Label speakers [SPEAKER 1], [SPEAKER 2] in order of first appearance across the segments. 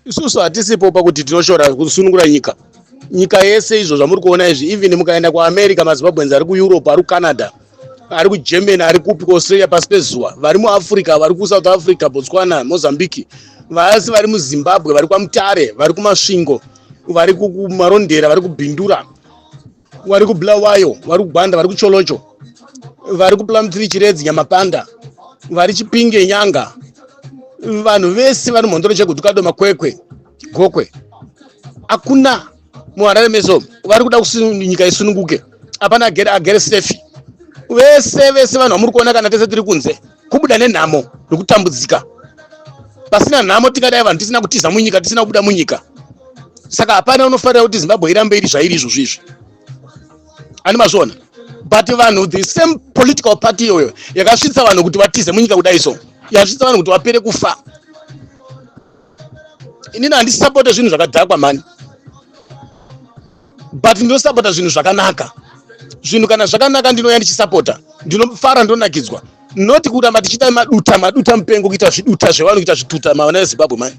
[SPEAKER 1] isusu hatisipo pakuti tinoshora kusunungura nyika nyika yese izvo zvamuri kuona izvi even mukaenda kuamerica mazimbabweans ari kueurope ari kucanada ari kugermany ari kupi kuaustralia pasi pezuva vari muafrica vari kusouth africa botswana mozambique vasi vari muzimbabwe vari kwamutare vari kumasvingo vari kumarondera vari kubhindura vari kubulawayo vari kugwanda vari kucholocho vari kuplamtiri chiredzi nyamapanda vari chipinge nyanga vanhu vese vari mhondoro chekuti kado makwekwe gokwe hakuna muharare meso vari kuda kuti nyika isununguke hapana agere agere safe vese vese vanhu vamuri kuona kana tese tiri kunze kubuda nenhamo nokutambudzika pasina nhamo tingadai vanhu tisina kutiza munyika tisina kubuda munyika saka hapana unofarira kuti zimbabwe irambe iri zvairi izvozvo izvi ani mazviona but vanhu the same political party iyoyo yakasvitsa vanhu kuti vatize munyika kudai so yakasvitsa vanhu kuti vapere kufa inini handisisapote zvinhu zvakadhakwa mhani but ndinosapota zvinhu zvakanaka zvinhu kana zvakanaka ndinouya ndichisapota ndinofara ndonakidzwa not kuramba tichiita maduta maduta mupengo kuita zviduta zvevanhu kuita zvituta mavana vezimbabwe mani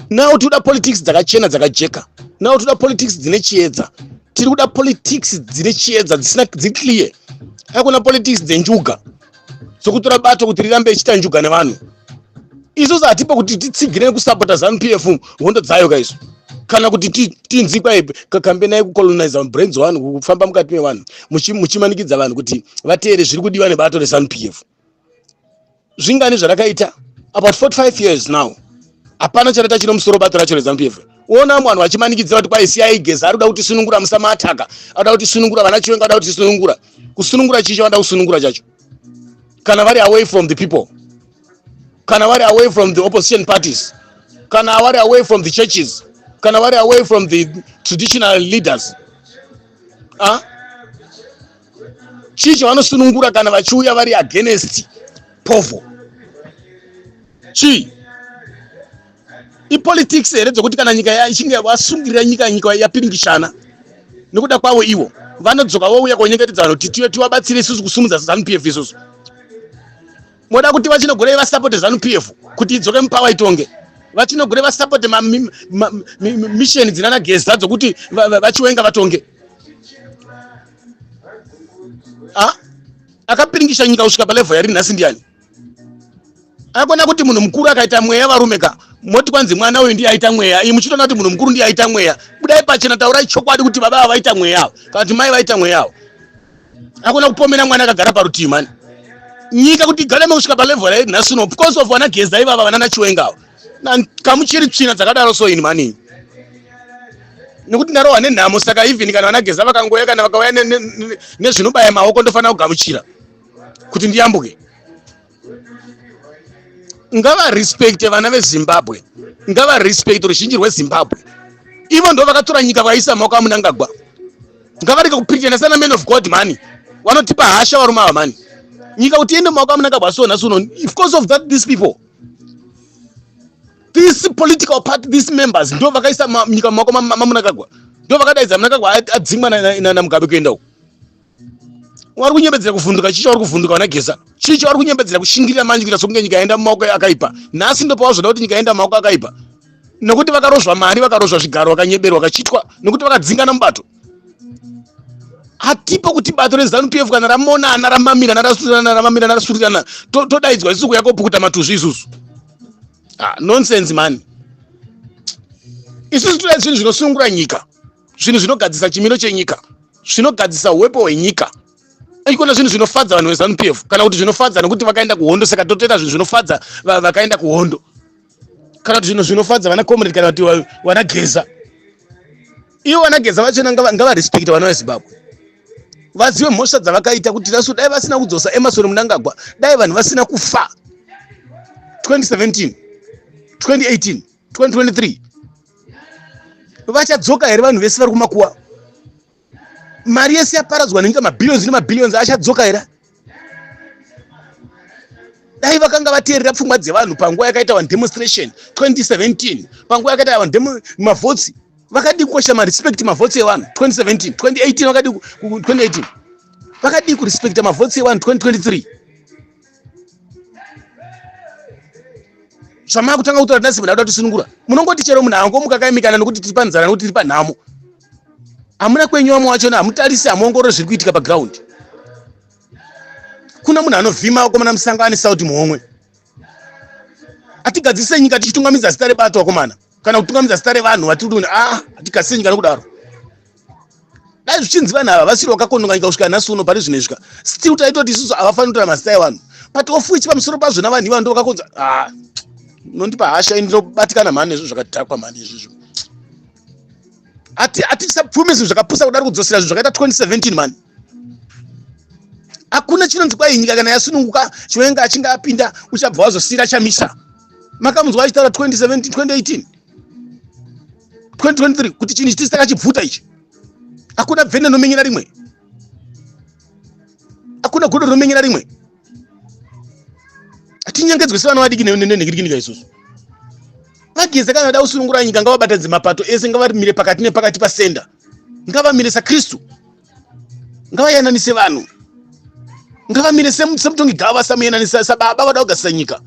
[SPEAKER 1] now tikuda politics dzakachena dzakajeka now tikuda politics dzine chiedza tiri kuda politics dzine chiedza dzisina dziclear hakuna politics dzenjuga dzokutora bato kuti rirambe ichiita njuga nevanhu isusu hatipo kuti titsigire nekusapota zanu p f hondo dzayo ka isu kana kuti tinzi kwai kambenai kucoloniza brains vanhu kufamba mukati mevanhu muchimanikidza vanhu kuti vateere zviri kudiwa nebato resanu p f zvingani zvarakaita about 45 years now hapana chataita chino musoro bato racho rezanu p f ona mwanhu vachimanikidza kuti kwaisiya igeza ari kuda kuti sunungura musama ataka ari kuda kuti sunungura vana chiwenga ari kuda kuti sunungura kusunungura chii chavanoda kusunungura chacho kana vari away from the people kana vari away from the opposition parties kana vari away from the churches kana vari away from the traditional leaders ah? chii chavanosunungura kana vachiuya vari against povo chii ipolitics here dzokuti kana nyika ichinge vasungirira nyika nyika yapiringishana nekuda kwavo ivo vanodzoka vouya konyengetedza vanhu kuti tiwe tivabatsire isusu kusumudza zanu p f isusu moda kuti vachinogurei vasapote zanu p f kuti idzoke mupawa itonge vachinogure vasapote misheni dzinana geza dzokuti vachiwenga vatonge akapiringisha nyika kusvika palevel yari nhasi ndiani akona kuti munhu mukuru akaita mweya varume ka moti kwanzi mwana uyu ndiye aita mweya iyi muchitoona kuti munhu mukuru ndiye aita mweya budai pachena taurai chokwadi kuti baba ava vaita mweya avo kana kuti mai vaita mweya avo akona kupomera mwana akagara parutivi mani nyika kuti igare mekusvika palevel rairi nhasi uno because of vana geza ivava vanana chiwenga avo kamuchiri tsvina dzakadaro so ini mani nekuti ndarohwa nenhamo saka even kana vanageza vakangouya kana vakauya nezvinobaya maoko ndofanira kugamuchira kuti ndiyambuke ngavarespecte vana vezimbabwe ngavarespecte ruzhinji rwezimbabwe ivo ndo vakatora nyika vakaisa maoko amunangagwa ngavarege kupirikana sana man of god mani vanotipa hasha varume ava mani nyika kuti iende maoko amunangagwa so nhasi uno because of that these people this political party these members ndo vakaisa nyika maoko mamunangagwa ndo vakadaidza munangagwa adzingwa namugabe kuenda uku wari kunyebedzera kuvhunduka chii chauri kuvhunduka vana geza chii chauri kunyebedzera kushingirira manje kuita sokunge nyika yaenda mumaoko akaipa nhasi ndopawazoda kuti nyika yaenda mumaoko akaipa nokuti vakarozva mari vakarozva zvigaro vakanyeberwa vakachitwa nokuti vakadzingana mubato hatipo kuti bato rezanu p f kana ramonana ramamirana rasurirana ramamirana rasurirana todaidzwa isuku yakopukuta matuzvi isusu ah, nonsense mani isusu toda zvinhu zvinosungura nyika zvinhu zvinogadzisa chimiro chenyika zvinogadzisa uwepo hwenyika ikona zvinhu zvinofadza vanhu vezanu p f kana kuti zvinofadza nokuti vakaenda kuhondo saka totoita zvinhu zvinofadza vakaenda kuhondo kana kuti zvinhu zvinofadza vana comrade kana kuti vana geza ivo vana geza vachona ngavarespecta vana vezimbabwe vazive mhosva dzavakaita kuti rasu dai vasina kudzosa emasoni munangagwa dai vanhu vasina kufa 2017 2018 2023 vachadzoka here vanhu vese vari kumakuwa mari yese yaparadzwa nenyika mabillions nemabillions achadzoka here dai vakanga vateerera pfungwa dzevanhu panguva yakaita vanhu demonstration 2017 panguva yakaita vanhu mavhotsi vakadii kukoshesa marespect mavhotsi evanhu 2017 2018 vakadii 2018 vakadii kurespecta mavhotsi evanhu 2023 zvamava kutanga kutaura tinasi munhu aida tisunungura munongoti chero munhu angomuka kaimikana nokuti tiri panzara nokuti tiri panhamo hamuna kwenyu vamwe wachona hamutarise hamuongorore zviri kuitika pagraundi kuna munhu anovhima vakomana musango ane saudi muhomwe hatigadzise nyika tichitungamidza zita rebato vakomana kana kutungamidza zita revanhu vatiri kuti ah hatikasiri nyika nokudaro dai zvichinzi vanhu ava vasiri vakakononga nyika kusvika nhasi uno pari zvinezvika still taitoti isusu havafaniri kutora mazita evanhu but of which pamusoro pazvo navanhu ivano ndo vakakonza ah nondipa hasha ini ndinobatikana mhani nezvo zvakadhakwa mhani izvizvo hatisapfumi zvinhu zvakapusa kudari kudzosera zvinhu zvakaita 2017 mhani hakuna chinonzi kwai nyika kana yasununguka chiwenga achinge apinda uchabva wazosira chamisa makamunzwa achitaura 2017 2018 2023 kuti chinhu chitisi takachibvuta ichi hakuna bvene nomenyera rimwe hakuna godo rinomenyera rimwe hatinyangedzwe sevana vadiki nenhikirikinika isusu vageze kana vada kusunungura nyika ngavabatadze mapato ese ngavamire pakati nepakati pasenda ngavamire sakristu ngavayananise vanhu ngavamire semutongi gava samuyananisa sababa vada kugasisa nyika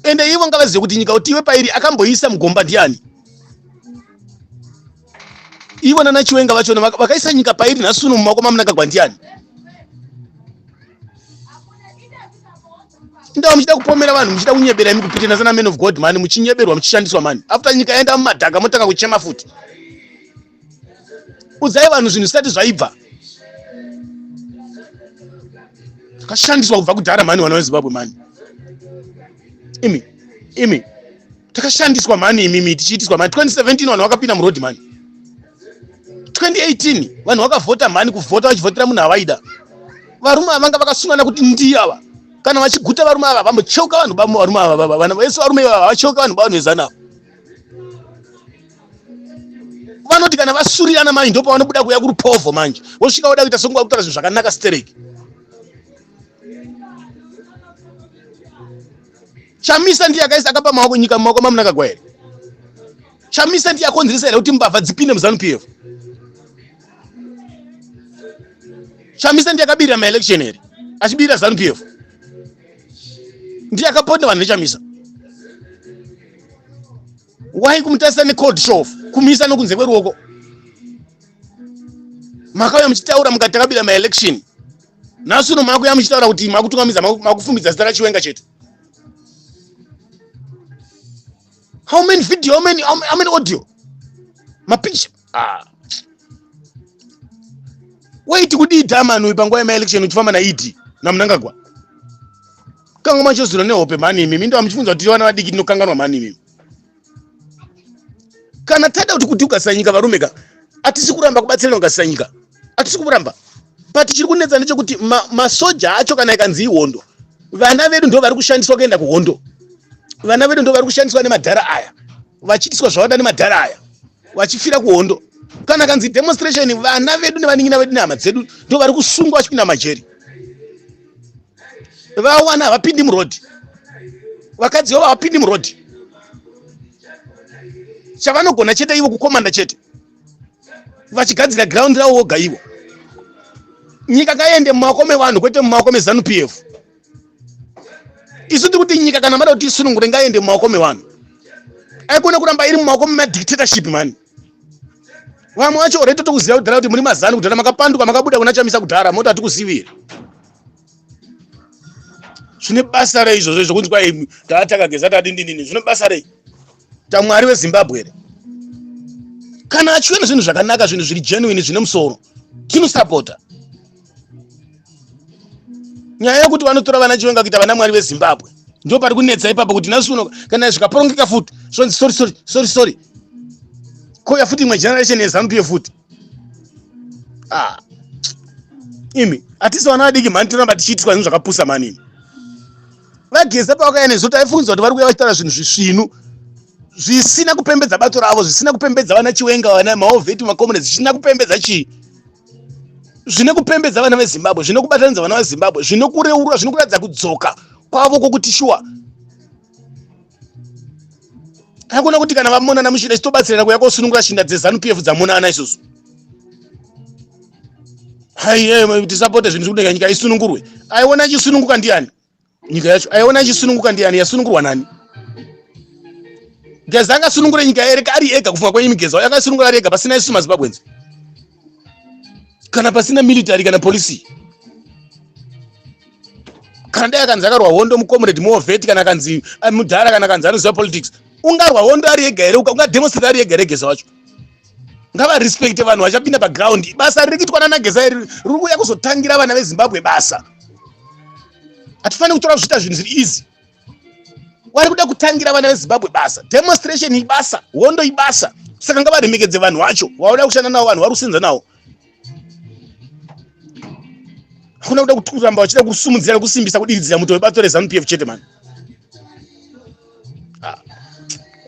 [SPEAKER 1] ende ivo ngavazive kuti nyika kuti iwe pairi akamboisa mugomba ndiani ivo nana chiwenga vachona vakaisa nyika pairi nhasi uno mumaoko mamunangagwa ndiani indaa muchida kupomera vanhu muchida kunyebera imi kupitana sana man of god mani muchinyeberwa muchishandiswa mani after nyika yaenda mumadhaka motanga kuchema futi udzai vanhu zvinhu zvisati zvaibva takashandiswa kubva kudhara mani vana vezimbabwe mani imi imi takashandiswa mani imimi tichiitiswa mani 2017 vanhu vakapinda muroad mani 2018 vanhu vakavhota mhani kuvhota vachivhotera munhu avaida varume ava vanga vakasungana kuti ndiye ava kana vachiguta varume ava vambocheuka vanhu bavo varume ava baba vana vese varume ivava havacheuka vanhu bavanhu vezanavo vanoti kana vasurirana manje ndo pavanobuda kuya kurupovo manje vosvika voda kuita songuva kutaura zvinhu zvakanaka stereki chamisa ndiye akaisa akapa maoko nyika mumaoko mamunakagwa here chamisa ndiye akonzeresa here kuti mbavha dzipinde muzanu pf chamisa ndiye akabirira maelection here achibirira zanu pf ndiye akaponda vanhu nechamisa why kumutarisa necold shof kumisa nokunze kweruoko makauya muchitaura mukati takabira maelection nhasi uno makuya muchitaura kuti makutungamidza makufumbidza zita rachiwenga chete how many video how many, how many, how many audio mapicture ah. waiti kudii dhaman uyu panguva yemaelection uchifamba naed namunangagwa kanga machozura nehope mhani imimi ndo amuchifunza kuti vana vadiki tinokanganwa mhani imimi kana tada kuti kuti ukasanyika varume ka atisi kuramba kubatsirana ukasanyika hatisi kumuramba but chiri kunetsa ndechekuti masoja ma acho kana ikanzi ihondo vana vedu ndo vari kushandiswa kuenda kuhondo vana vedu ndo vari kushandiswa nemadhara aya vachiitiswa zvavada nemadhara aya vachifira kuhondo kana kanzi demonstration vana vedu nevaningina vedu nehama dzedu ndo vari kusungwa vachipinda majeri vawana havapindi murodhi vakadzi vavo havapindi murodhi chavanogona chete ivo kukomanda chete vachigadzira ground ravo voga ivo nyika kaende mumaoko mevanhu kwete mumaoko mezanu p f isu tiri kuti nyika kana mada kuti isunungure ngaende mumaoko mevanhu aikone kuramba iri mumaoko memadictatorship mani vamwe vacho ore totokuziva kudhara kuti muri mazanu kudhara makapanduka makabuda kuna chamisa kudhara moti hatikusiviri zvine basa rei izvozvo izvo kunzwa tataka geza tadindinini zvine basa rei tamwari wezimbabwe here kana achiona zvinhu zvakanaka zvinhu zviri genuine zvine musoro tinosapota nyaya yekuti vanotora vana chiwenga kuita vana mwari vezimbabwe ndo pari kunetsa ipapo kuti nhasi uno kana zvikaporongeka futi zvonzi sorry sorry sorry sorry kouya futi imwe generation yezanup ye futi ah. imi hatisi vana vadiki mhani tinoramba tichiitiswa zvinhu zvakapusa manini vageza pavakauya nesu taifungidzwa kuti vari kuuya vachitaura zvinhu zvisvinu zvisina kupembedza bato ravo zvisina kupembedza vana chiwenga vana maovheti makomunist zvisina kupembedza chii zvine kupembedza vana vezimbabwe zvine kubatanidza vana vezimbabwe zvine kureurwa zvine kuratidza kudzoka kwavo kwokuti shuwa akuona kuti kana vamonana muchida chitobatsirana kuya kosunungura shinda dzezanu pf dzamonana isusu haiye tisapote zvinhu zvikudenga nyika isunungurwe aiona ichisununguka ndiani nyika yacho aiona ichisununguka ndiani yasunungurwa nani geza angasunungure nyika ere ari ega kufunga kwenyu migeza uyo angasunungura ari ega pasina isusu mazimbabwenzi kana pasina military kana policy kana dai akanzi akarwa hondo mucomrade movet kana akanzi eh, mudhara kana akanzi anoziva politics ungarwa hondo ari ega here ungademonstrate ari ega regesa wacho ngavarespecte vanhu vachapinda paground basa riri kuitwa nanagesa iri riri kuuya kuzotangira vana vezimbabwe basa hatifaniri kutora zviita zvinhu zviri easy wari kuda kutangira vana vezimbabwe basa demonstration ibasa hondo ibasa saka ngavaremekedze vanhu vacho vauda kushanda navo vanhu vari kusenza navo hakuna kuda kuramba vachida kusumudzira nekusimbisa kudiridzira muto webato rezanup f chete mani ah,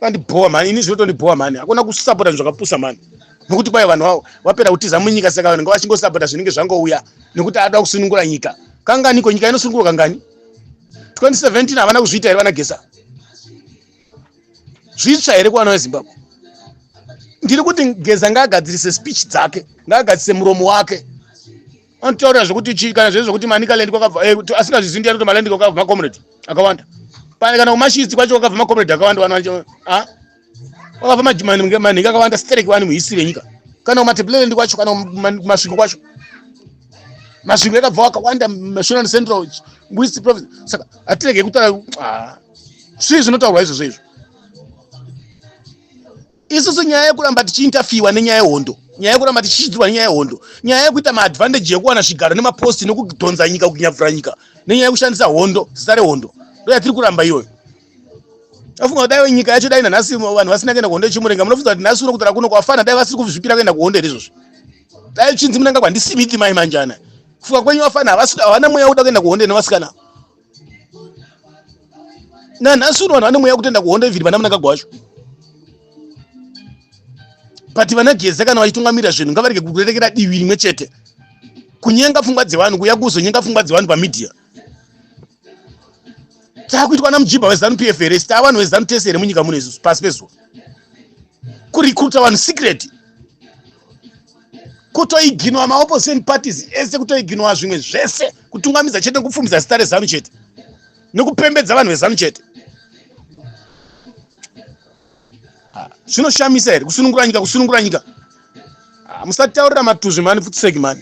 [SPEAKER 1] vandibhowa mani ini zvinotondibhowa mani hakuna kusapota zvinhu zvakapusa mani nokuti kwai vanhu vavo vapera kutiza munyika saka vanhu ngavachingosapota zvinenge zvangouya nekuti ada kusunungura nyika kanganiko nyika inosunungurwa kangani 2017 havana kuzviita here vana gesa zvitsva here kuvana vezimbabwe ndiri kuti geza ngaagadzirise speech dzake ngaagadzirise muromo wake anotaura zvekuti chii kana zvezvo kuti manicaland kwakabva eh, asingazvizivi ndiyani kuti maland kwakabva macomrade akawanda pane kana kumashidzi kwacho kwakabva macomrade akawanda vana ah? wakapa manhingi akawanda stereki wani muhisi venyika kana kumatebleland kwacho kana kumasvingo kwacho masvingo yakabva wakawanda mashonal central west province saka hatirege kutaura ah, svii zvinotaurwa izvozvo izvo isusu nyaya yekuramba tichiintafiwa nenyaya yehondo nyaya yekuramba tichichidzirwa nenyaya yehondo nyaya yekuita maadvantage yekuwana zvigaro nemaposti nokudhonza nyika kunyabvura nyika nenyaya yekushandisa hondo zita rehondo ndo yatiri kuramba iyoyo afunga kuti dai nyika yacho dai nanhasi vanhu vasina kuenda kuhondo yechimurenga munofunga kuti nhasi uno kutara kuno kwafana dai vasiri kuzvipira kuenda kuhondo here izvozvo dai chinzi munanga kwandisimiti mai manjana kufunga kwenyu vafana havana mweya wekuda kuenda kuhondo nevasikana nanhasi uno vanhu vane mweya wekutoenda kuhondo ivhiri vana munangagwa wacho but vana geza kana vachitungamirira zvinhu ngavarege kurerekera divi rimwe chete kunyenga pfungwa dzevanhu kuya kuzonyenga pfungwa dzevanhu pamidhiya takuitwa namujibha wezanu pf here sita vanhu vezanu tese here munyika muno isusu pasi pezuva kurecruta vanhu secret kutoiginwa maopposition parties ese kutoiginwa zvimwe zvese kutungamidza chete nekupfumidza zita rezanu chete nekupembedza vanhu vezanu chete ah, zvinoshamisa here kusunungura nyika kusunungura nyika ah, musataurira matuzvi mani futiseki mani